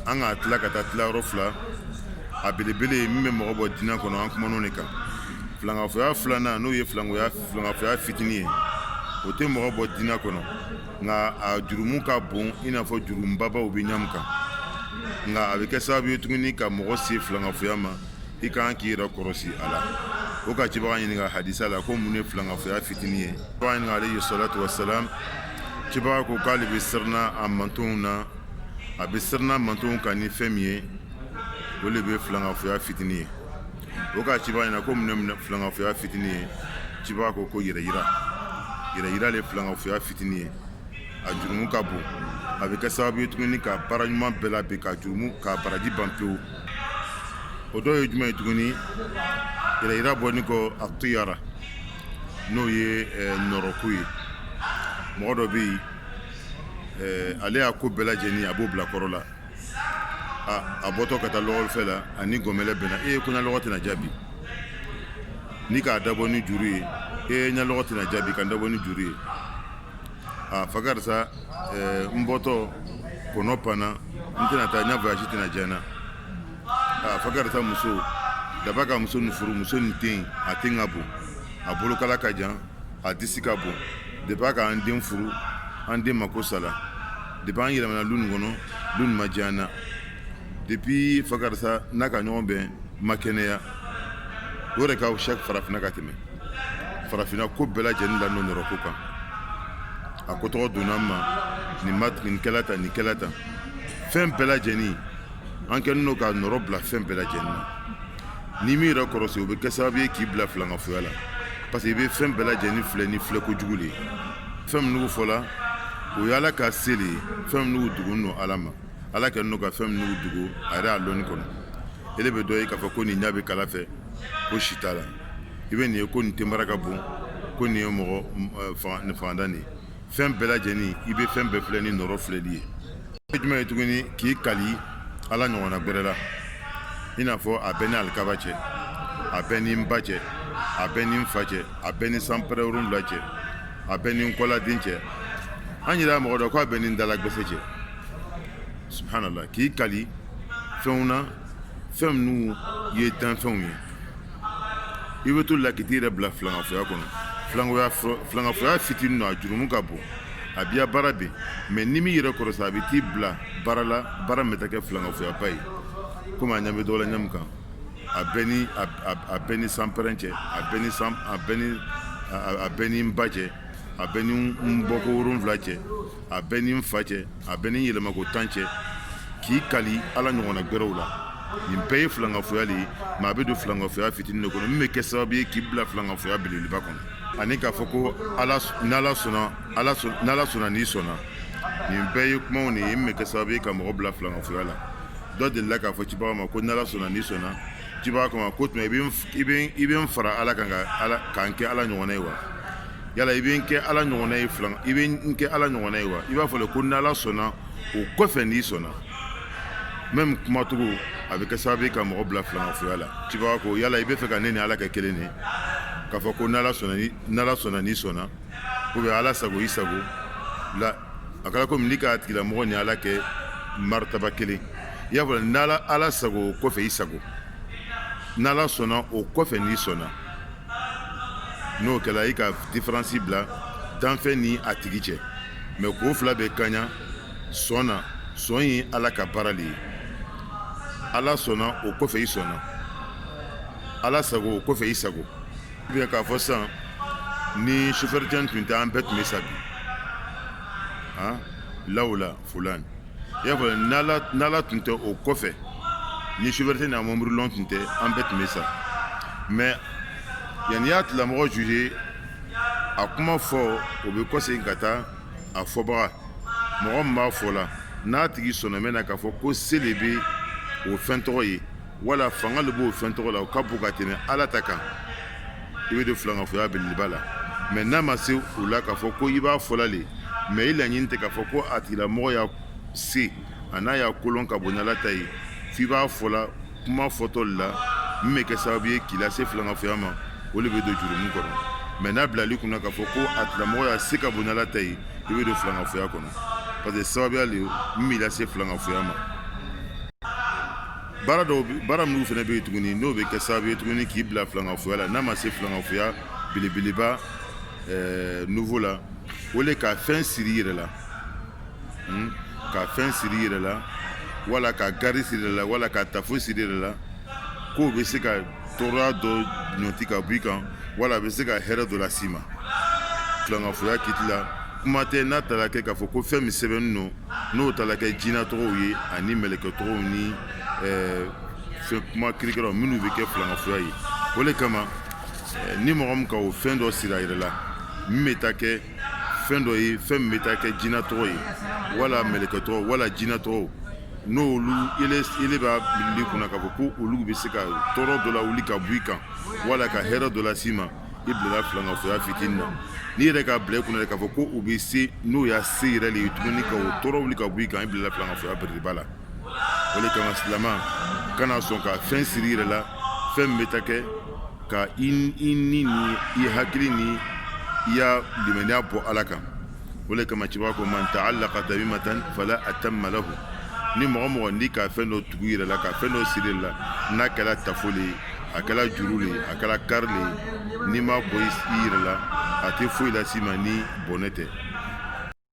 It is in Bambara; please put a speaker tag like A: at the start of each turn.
A: an ka tila ka taa tilayɔrɔ fila a belebele min bɛ mɔgɔ bɔ diinɛ kɔnɔ an kumana o de kan filankafoya filanan n'o ye filankoya filankafoya fitinin ye o tɛ mɔgɔ bɔ diinɛ kɔnɔ nka a jurumu ka bon i n'a fɔ jurumubabaw bɛ ɲamu kan nka a bɛ kɛ sababu ye tuguni ka mɔgɔ se filankafoya ma i ka kan k'i yɛrɛ kɔrɔsi a la o ka cibaga ɲininka hadisa la ko mun ye filankafoya fitinin ye cibaga ɲininka alayhi salatu wasalam cibaga ko k'ale bɛ siranna a mantonw na a bɛ siranna a mantonw kan ni fɛn min ye o de bɛ filankafoya fitinin ye o ka cibaga ɲininka ko mun ye filankafoya fitinin ye cibaga ko ko yɛrɛyira yɛrɛyira de filankafoya fitinin ye a jurumu ka bon a bɛ kɛ sababu ye tuguni ka baara ɲuman bɛɛ laben ka jurumu ka baraji ban pewu o dɔw ye jumɛn ye tuguni yɛrɛyira bɔlen kɔ atiyara n'o ye nɔrɔko ye mɔgɔ dɔ bɛ yen ale ya ko bɛɛ lajɛlen a b'o bila kɔrɔ la a bɔtɔ ka taa lɔgɔfɛ la a ni gɔmɛlɛ bɛnna e ko n ya lɔgɔ tɛna diya bi n'i k'a dabɔ ni juru ye e n ya lɔgɔ tɛna diya bi ka dabɔ ni juru ye aa fa karisa n bɔtɔ kɔnɔ panna n tɛna taa n ya voyage tɛna diya n na aa fa karisa muso daba ka muso nin furu muso nin ten a ten ka bon a bolokala ka jan a disi ka bon depuis a ka an den furu an den mako sala depuis an yɛlɛmana lu nin kɔnɔ lu nin ma diya an na depuis fa karisa n'a ka ɲɔgɔn bɛn ma kɛnɛya o de ka ca farafinna ka tɛmɛ farafinna ko bɛɛ lajɛlen la nɔrɔko kan a ko tɔgɔ donna an ma nin kɛla tan nin kɛla tan fɛn bɛɛ lajɛlen an kɛlen don ka nɔrɔ bila fɛn bɛɛ lajɛlen na N'i m'i yɛrɛ kɔrɔsi o bɛ kɛ sababu ye k'i bila filankafoya la parce que i bɛ fɛn bɛɛ lajɛlen filɛ ni filɛ kojugu de ye fɛn minnu fɔla o ye ala ka se de ye fɛn minnu dugulen don ala ma ala kɛlen don ka fɛn minnu dugu a yɛrɛ a lɔnni kɔnɔ ele bɛ dɔ ye k'a fɔ ko nin ɲa bɛ kala fɛ ko si t'a la i bɛ nin ye ko nin tenbara ka bon ko nin ye mɔgɔ fangantan nin ye fɛn bɛɛ lajɛlen i bɛ fɛn bɛɛ filɛ ni nɔrɔ filɛli ye e jumɛn ye tuguni k'i kali ala ɲɔgɔnna gbɛrɛ la i n'a fɔ a bɛ n ni alikaba cɛ a bɛ n ni n ba cɛ a bɛ n ni n fa cɛ a bɛ n ni sanpɛrɛn wolonwula cɛ a bɛ n ni n kɔladen cɛ an yɛrɛ mɔgɔ dɔ k'a bɛ n ni n dala gbɛsɛ cɛ subhanallah k'i kali fɛnw na fɛn minnu ye danfɛnw ye i bɛ to la k'i t'i yɛrɛ bila filankafoya kɔnɔ filankafoya filankafoya fitinin don a jurumu ka bon a b'i ya baara ben mais n'i m'i yɛrɛ kɔrɔsi a bɛ t'i bila baara la baara min bɛ taa kɛ filankafoyaba ye komi a ɲɛ bɛ dɔ la ɲamu kan a bɛ n ni a bɛ n ni sanpɛrɛn cɛ a bɛ n ni san a bɛ n ni a bɛ n ni n ba cɛ a bɛ ni n bɔko wolonwula cɛ a bɛ ni n fa cɛ a bɛ ni yɛlɛmako tan cɛ k'i kali ala ɲɔgɔnna gɛrɛw la nin bɛɛ ye filankafoya de ye mais a bɛ don filankafoya fitinin de kɔnɔ min bɛ kɛ sababu ye k'i bila filankafoya belebeleba kɔnɔ ani k'a fɔ ko n'ala sɔnna n'i sɔnna nin bɛɛ ye kumaw de ye min bɛ kɛ sababu ye ka mɔgɔ bila filankafoya la dɔ delila k'a fɔ cibaga ma ko n'ala sɔnna n'i sɔnna cibaga k'a ma ko tuma i bɛ n fara ala kan ka n kɛ ala ɲɔgɔnna ye wa yala i bɛ n kɛ ala ɲɔgɔnna ye filan i bɛ n kɛ ala ɲɔgɔnna ye wa i b'a fɔ le ko n'ala sɔnna o kɔfɛ n'i sɔnna même kumacogo a bɛ kɛ sababu ye ka mɔgɔ bila filankafoya la cibaga ko yala i bɛ fɛ ka ne ni ala kɛ kelen de k'a fɔ ko n'ala sɔnna ni n'ala sɔnna n'i sɔnna ou bien ala sago i sago la a kɛra komi n'i k'a tigilamɔgɔ ni ala kɛ maritaba kelen i y'a fɔ n'ala ala sago o kɔfɛ i sago n'ala sɔnna o kɔfɛ n'i sɔnna n'o kɛra i ka différence bila danfɛn ni a tigi cɛ mais k'o fila bɛɛ kaɲa sɔn na sɔn ye ala ka baara de ye ala sɔnna o kɔfɛ i sɔnna ala sago o kɔfɛ i sago bien k'a fɔ sisan ni sofɛrɛcɛ tun tɛ an bɛɛ tun bɛ sa bi lawula fulan i y'a fɔ n'ala tun tɛ o kɔfɛ ni sofɛrɛcɛ n'a mɔbili lɔn tun tɛ an bɛɛ tun bɛ sa mais yanni i y'a tigilamɔgɔ juger a kuma fɔ o bɛ kɔsegin ka taa a fɔbaga mɔgɔ min b'a fɔla n'a tigi sɔnɔmɛ na k'a fɔ ko se le bɛ o fɛn tɔgɔ ye wala fanga de b'o fɛn tɔgɔ la o ka bon ka tɛmɛ ala ta kan i bɛ don filankafoya belebeleba la mais n'a ma se o la k'a fɔ ko i b'a fɔla de mais i laɲini tɛ k'a fɔ ko a tigilamɔgɔ ya se an'a ya kolɔn ka bon n'ala ta ye f'i b'a fɔla kuma fɔtɔ de la min bɛ kɛ sababu ye k'i lase filankafoya ma o de bɛ don jurumu kɔnɔ mais n'a b'ile le kunna k'a fɔ ko a tigilamɔgɔ ya se ka bon n'ala ta ye i bɛ don filankafoya kɔnɔ parce que sababuya de min b'i lase filankafoya ma baara dɔw baara minnu fana bɛ yen tuguni n'o bɛ kɛ sababu ye tuguni k'i bila filankafoya la n'a ma se filankafoya belebeleba ɛɛ niveau la o le ka fɛn siri i yɛrɛ la hmm? ka fɛn siri i yɛrɛ la wala ka gari siri i yɛrɛ la wala ka tafo siri i yɛrɛ la k'o bɛ se ka tɔɔrɔya dɔ ɲɔti ka bɔ i kan wala a bɛ se ka hɛrɛ dɔ las'i ma filankafoya kiti la kuma tɛ n'a taara kɛ k'a fɔ ko fɛn min sɛbɛnnen don n'o taara kɛ jinɛ tɔgɔw ye ani mɛlɛkɛ tɔgɔw ni fɛn kuma kirikara minnu bɛ kɛ filankafoya ye o de kama ni mɔgɔ min ka o fɛn dɔ siri a yɛrɛ la min bɛ taa kɛ fɛn dɔ ye fɛn min bɛ taa kɛ jinɛ tɔgɔ ye wala mɛlɛkɛ tɔgɔ wala jinɛ tɔgɔ n'olu b'a b'ile kunna k'a fɔ ko olu bɛ se ka tɔɔrɔ dɔ lawuli ka bɔ i kan wala ka hɛrɛ dɔ las'i ma i bilala filankafoya fitinin na n'i yɛrɛ k'a bila i kunna k'a fɔ ko u bɛ se n'o ya se yɛrɛ de ye tuguni ka o tɔɔrɔ wuli ka bɔ i kan i bilala filankafoya belebeleba la o de kama silama kana sɔn ka fɛn siri i yɛrɛ la fɛn min bɛ taa kɛ ka i ni ni i hakili ni i ya limaniya bɔ ala kan o le kama cɛba ko man ta'allaqa tamimatan fala atamma lahu ni mɔgɔ mɔgɔ n'i ka fɛn dɔ tugu i yɛrɛ la ka fɛn dɔ siri i la n'a kɛra tafo le ye a kɛra juru le ye a kɛra kari le ye n'i m'a bɔ i yɛrɛ la a tɛ foyi las'i ma ni bɔnɛ tɛ